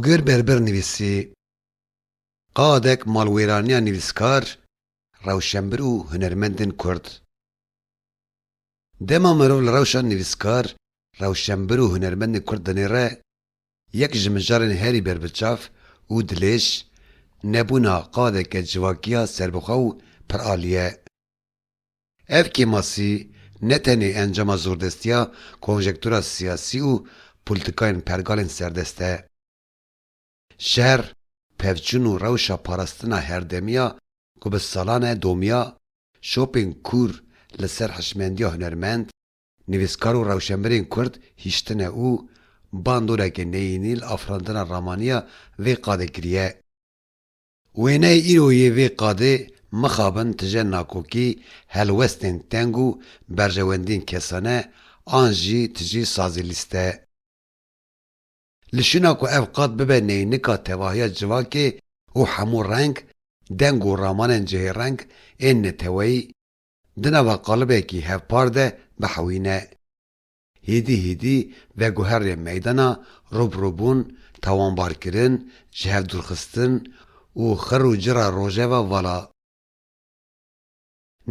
Hogir Berbir nivîsî, Qadek malwêraniya nivîskar, rewşenbir û hunermendên kurd. Dema mirov li rewşa nivîskar, rewşenbir û hunermendên kurd dinêre, yek ji mijarên herî berbiçav û dilêş, nebûna qadeke civakiya serbixwe û piralî ye. Ev kêmasî ne tenê encama zordestiya konjektura siyasî û polîtîkayên pergalên serdest e. Şer, pevçûn û rewşa parastina herdemiya ku bi salan e domiya, şopên kûr li ser hişmendiya hunermend, nivîskar û rewşenbirên kurd hiştine û bandoreke neyînî li afirandina ramaniya vê qadê kiriye. Wêneyê îro yê vê qadê mixabin tije nakokî, helwestên teng û berjewendiyên kesane an jî tije sazê lîste. Li şûna ku ev qad bibe neynika tevahiya civakê û hemû reng, deng û ramanên cihêreng ên neteweyî di nava qalibekî hevpar de bihewîne. Hêdî hêdî veguherîye meydana rûbirûbûn, tawanbarkirin, jihevdûrxistin û xir û cira rojeva vala.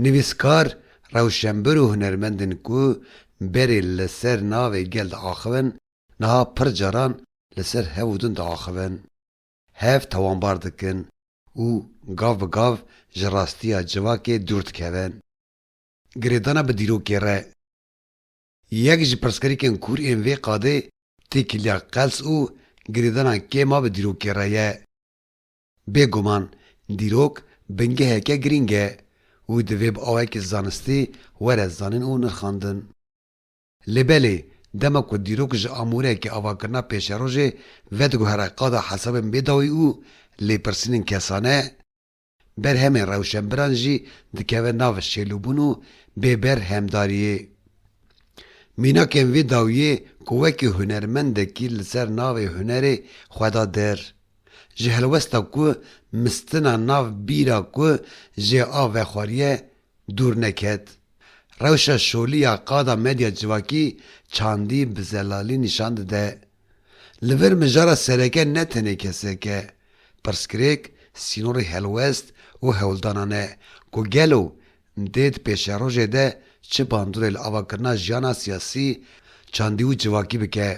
Nivîskar, rewşenbir û hunermendên ku berê li ser navê gel diaxivin niha pir caran li ser hev û din diaxivin, hev tawanbar dikin û gav bi gav ji rastiya civakê dûr dikevin. Girêdana bi dîrokê re. Yek ji pirsgirêkên kûr ên vê qadê têkiliya qels û girêdana kêm a bi dîrokê re ye. Bêguman dîrok bingeheke girîng e û divê bi awayekî zanistî were zanîn û nirxandin. Lê belê dema ku dîrok ji amûreyeke avakirina pêşerojê vediguhere qada hesabên bêdawî û lêpirsînên kesane, Berhemên rewşenbiran jî dikeve nav şêlûbûn û bêberhemdariyê. Mînakên vê dawiyê ku wekî hunermendekî li ser navê hunerê xwe da der, ji helwesta ku mistina nav bîra ku jê a vexwariye Dûr neket, rewşa şolî ya qada medya civakî çandî bi zelalî nîşan dide. Li vir mijara sereke ne tenê kesek e, pirsgirêk sînorê helwest û hewldana ne ku gelo dê di pêşerojê de çi bandorê li avakirina jiyana siyasî, çandî û civakî bike.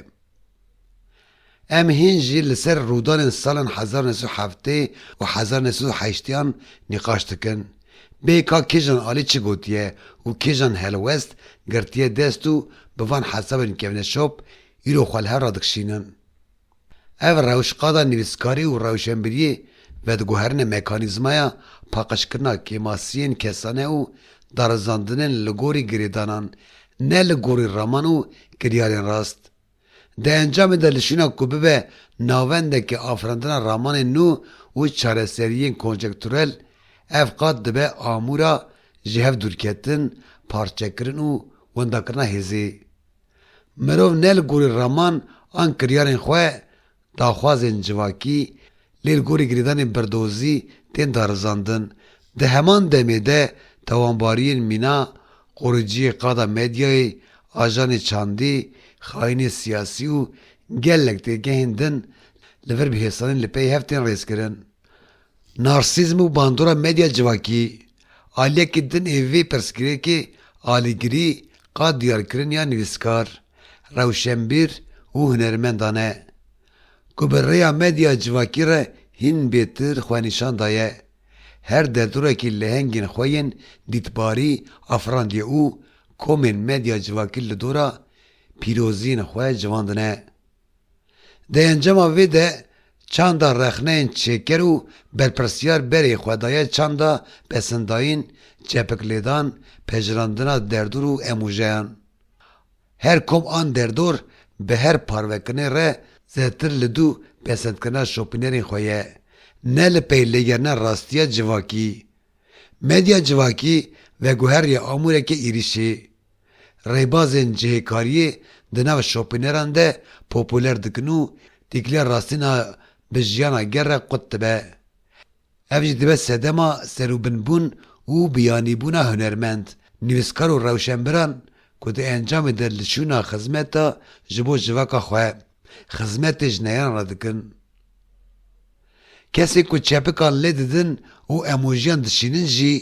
Em hîn jî li ser rûdanên salan hezar nê sed û heftê û hezar nê sed û heştîyan nîqaş dikin. Bê ka kîjan alî çi gotiye û kîjan helwest girtiye dest û bi van hesabên kevneşop îro xwe li hev radikişînin. Ev rewşqada nivîskarî û rewşenbîriyê vediguherîne mekanîzmaya paqijkirina kêmasiyên kesane û darizandinên li gorî girêdanan, ne li gorî raman û kiryarên rast. Di encamê de li şîna ku bibe navendeke afirandina ramanên nû û çareseriyên konjekturel, ev qat dibe amûra ji hev dûrketin, parçekirin û wendakirina hêzê. Mirov ne li gorî raman an kiryarên xwe daxwazên civakî lê li gorî girêdanên berdozî tên darizandin. Di heman demê de tawanbariyên mîna, qoriciyê qada medyayê, ajanê çandî, xayînê siyasî û gelek têgehên din li vir bi hêsanî li pey hev tên rêzkirin. Narsîzm û bandora medya civakî Aliyekî din ê vê pirsgirêkê alîgirî qad diyarkiriniya nivîskar, rewşenbîr û hunermendan e, ku bi rêya medya civakî re hîn bêtir xwenîşan daye, her derdorekî lehengên xwe yên dîtbarî afirandiye û komên medya civakî li dora pîroziyên xwe civandine. Di encama vê de çanda rexneyên çêker û berpirsyar berê xwe daye çanda pesindayîn, çepiklêdan, pejirandina derdor û emojeyan. Her kom an derdor bi her parvekinê re zêtir li dû pesendkirina şopînerên xwe ye, ne li pey lêgerina rastiya civakî. Medya civakî veguheriya amûrekê êrîşê. rêbazên cihêkariyê di nav şopîneran de popûler dikin û tîkiliya rastîna bi jiyana ger re qut dibe. Ev jî dibe sedema serûbinbûn û biyanîbûna hunermend, nivîskar û rewşenbiran ku di encamê de li şûna xizmeta ji bo civaka xwe, xizmetê ji neyanan re dikin. Kesên ku çepikan lê didin û emojiyan dişînin jî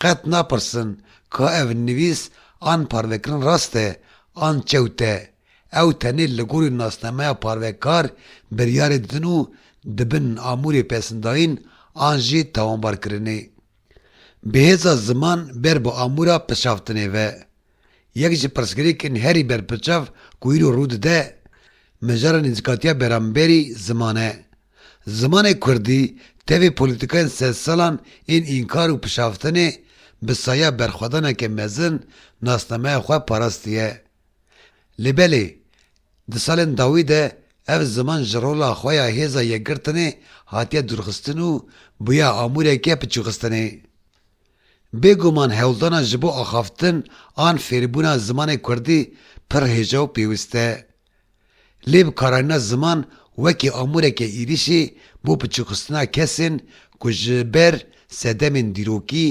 qet napirsin ka ev nivîs an parvekirin rast e an çewt e. Ew tenê li gorî nasnameya parvekar biryarê didin û dibin amûrê pesndayîn an jî tawanbarkirinê. Bi hêza ziman ber bi amûra pişaftinê ve. Yek ji pirsgirêkên herî berpiçav ku îro rû dide, mijara nêzîkatiya bêramberî ziman e. Zimanê kurdî tevê polîtîkayên sedsalan ên înkar û pişaftinê bi saya berxwedaneke mezin nasnameya xwe parastiye. Lê belê, di salên dawî de ev ziman ji rola xwe ya hêza yekgirtinê hatiye dûrxistin û bûye amûreke piçûxistinê. Bêguman hewldana ji bo axaftin an fêrbûna zimanê kurdî pir hêja û pêwist e. Lê bi karayîna ziman wekî amûreke êrîşî bo piçûkxistina kesên ku ji ber sedemên dîrokî,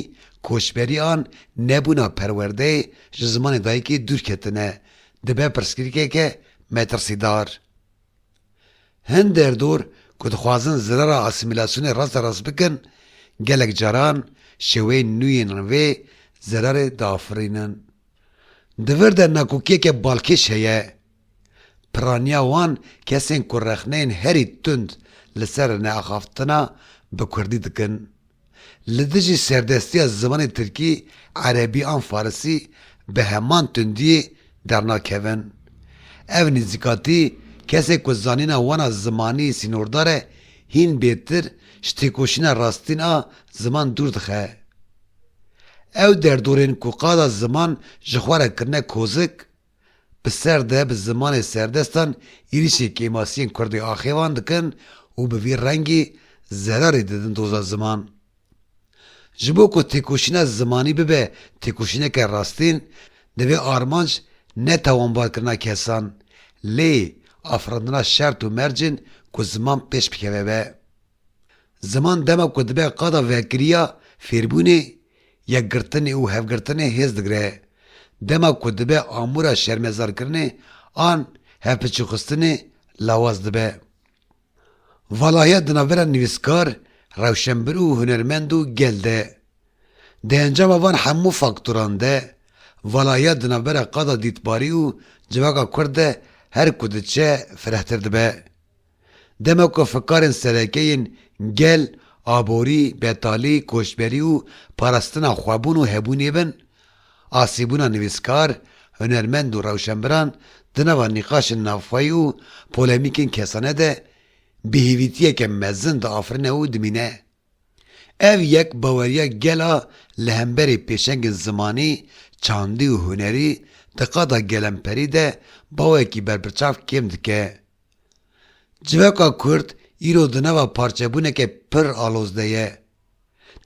koçberî an nebûna perwerdeyê ji zimanê dayikê dûr ketine, dibe pirsgirîkeke metirsîdar. Hin derdor ku dixwazin zirara asîmîlasyonê rast e rast bikin, gelek caran şêweyên nû yên vê zirarê diafirînin. Di vir de nakokiyeke balkêş heye. Piraniya wan kesên ku rexneyên herî tund li ser neaxaftina bi kurdî dikin, Li dijî serdestiya zimanê tirkî, erebî an farisî bi heman tundiyê dernakevin. Ev nêzîkatî kesê ku zanîna wan a zimanî sînordar e hîn bêtir ji têkoşîna rastîn a ziman dûr dixe. Ew derdorên ku qada ziman ji xwe re kirine kozik, Bi serde bi zimanê serdestan êrîşê kêmasiyên kurdê axê wan dikin û bi vî rengî zerarê didin doza ziman. Ji bo ku têkoşîna zimanî bibe têkoşîneke rastîn, divê armanc ne tawanbarkirina kesan, lê afirandina şert û mercên ku ziman pêş bikeve be. Ziman dema ku dibe qada vekiriya fêrbûnê, yekgirtinê û hevgirtinê hêz digre. Dema ku dibe amûra şermezarkirinê an hevpiçûxistinê lawaz dibe. Valahiya di navbera nivîskar, rewşenbir û hunermend û gel de. Di encama van hemû faktoran de, valahiya di navbera qada dîtbarî û civaka kurd de her ku diçe firehtir dibe. Dema ku fikarên sereke yên gel, aborî, betalî, koçberî û parastina xwebûn û hebûnê bin, asîbûna nivîskar, hunermend û rewşenbiran di nava nîqaşên navxweyî û polemîkên kesane de bêhêvîtiyeke mezin diafirine û dimîne. Ev yek baweriya gel a li hemberî pêşengên zimanî, çandî û hunerî di qada gelemperî de bawekî berbiçav kêm dike. Civaka kurd îro di nava parçebûneke pir aloz de ye.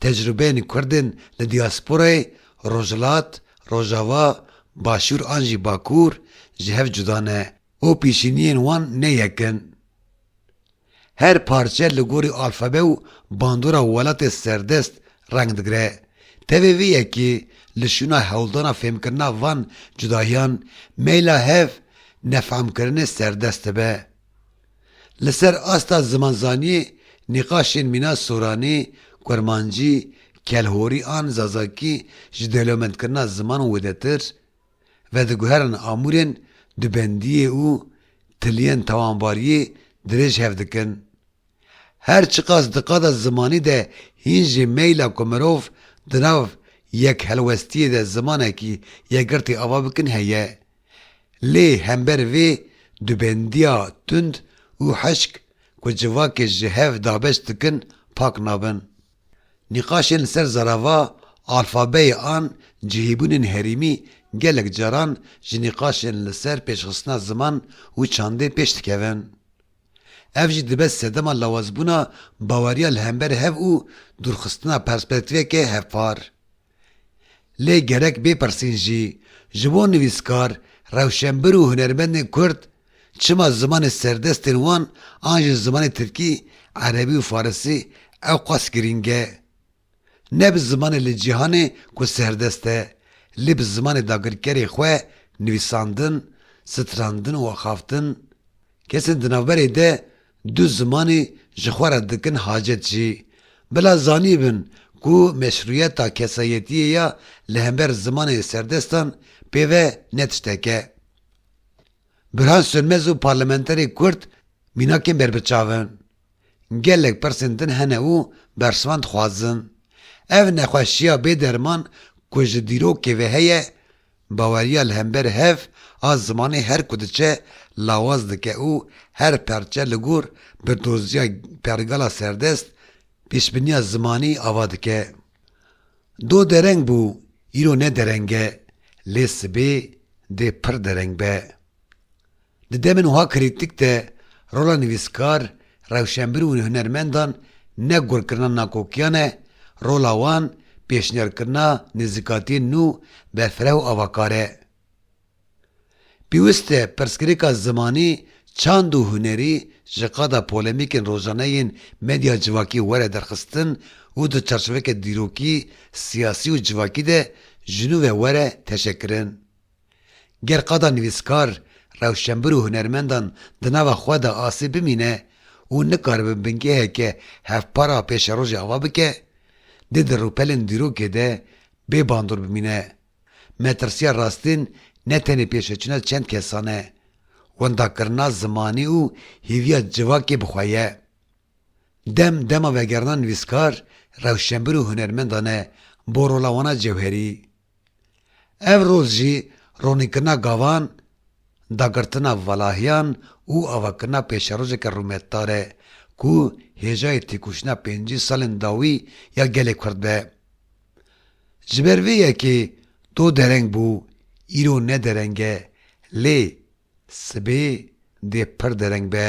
Tecrûbeyên kurdên li diasporayê rojhilat, rojava, başûr an jî bakur ji hev cuda ne û pîşîniyên wan ne yek in. Her parçe li gorî alfabe û bandora welatê serdest Reng digre, tevê vê yekê li şûna hewldana fêmkirina van cudahiyan meyla hev nefamkirinê serdest dibe. Li ser asta zimanzaniyê nîqaşên mîna soranî, kurmancî, kelhorî an zazakî ji dewlemendkirina ziman wêdetir vediguherin amûrên dubendiyê û tiliyên tawanbariyê dirêj hev dikin. Her çiqas di qada zimanî de hîn jî meyla ku mirov di nav yek helwestiyê de zimanekî yekgirtî ava bikin heye. Lê hember vê dubendiya tund û hişk ku civakê ji hev dabeş dikin pak nabin. Nîqaşên li ser zarava alfabeyê an cihîbûnên herîmî gelek caran ji nîqaşên li ser pêşxistina ziman û çandê pêş dikevin. Ev jî dibe sedema lawazbûna baweriya li hember hev û dûrxistina perspektîveke hevpar. Lê gerek bêpirsîn jî, ji bo nivîskar, rewşenbir û hunermendên Kurd çima zimanê serdestên wan an jî zimanê Tirkî, Erebî û Farisî ewqas girîng e? Ne bi zimanê li cîhanê ku serdest e, lê bi zimanê dagirkerê xwe nivîsandin, strandin û axaftin. Kesên di navberê de du zimanê ji xwe re dikin hacet jî. Bila zanîbin ku meşrûyeta kesayetiyê ya li hember zimanê serdestan pê ve ne tiştek e. Birhan Sönmez û parlamenterê kurd mînakên berbiçav in. Gelek pirsên din hene û bersivan dixwazin. Ev nexweşiya bê derman ku ji dîrokê ve heye, baweriya li hember hev a zimanê her ku diçe lawaz dike û her perçe li gor bi doziya pergala serdest pêşbiniya zimanî ava dike. Do dereng bû, îro ne dereng e, lê sibê dê pir dereng be. Di demên wiha krîtîk de rola nivîskar, rewşenbir û hunermendan ne gurkirina nakokiyan e, rola wan pêşniyarkirina nêzîkatiyên nû be fireh û avakar e. Pîwist e pirsgirêka zimanî, çand û hunerî ji qada polemîkên rojane yên medya civakî were derxistin û di çarçoveke dîrokî, siyasî û civakî de ji nû ve were teşekirin. Ger qada nivîskar, rewşenbir û hunermendan di nava xwe de asê bimîne û nikaribin bingeheke hevpara pêşerojê ava bike, dê di rûpelên dîrokê de bê bandor bimîne. Metirsiya rastîn ne tenê pêşveçûna çend kesan e, wendakirina zimanî û hêviya civakê bi xwe ye. Dem dema vegerina nivîskar, rewşenbir û hunermendan e bo rola wan a cewherî. Ev rol jî ronînkirina gavan, dagirtina valahiyan û avakirina pêşerojeke rûmetdar e ku hêjayê têkoşîna pêncî salên dawî ya gelê Kurd be. Ji ber vê yekê do dereng bû, îro ne dereng e lê sibê dê pir dereng be.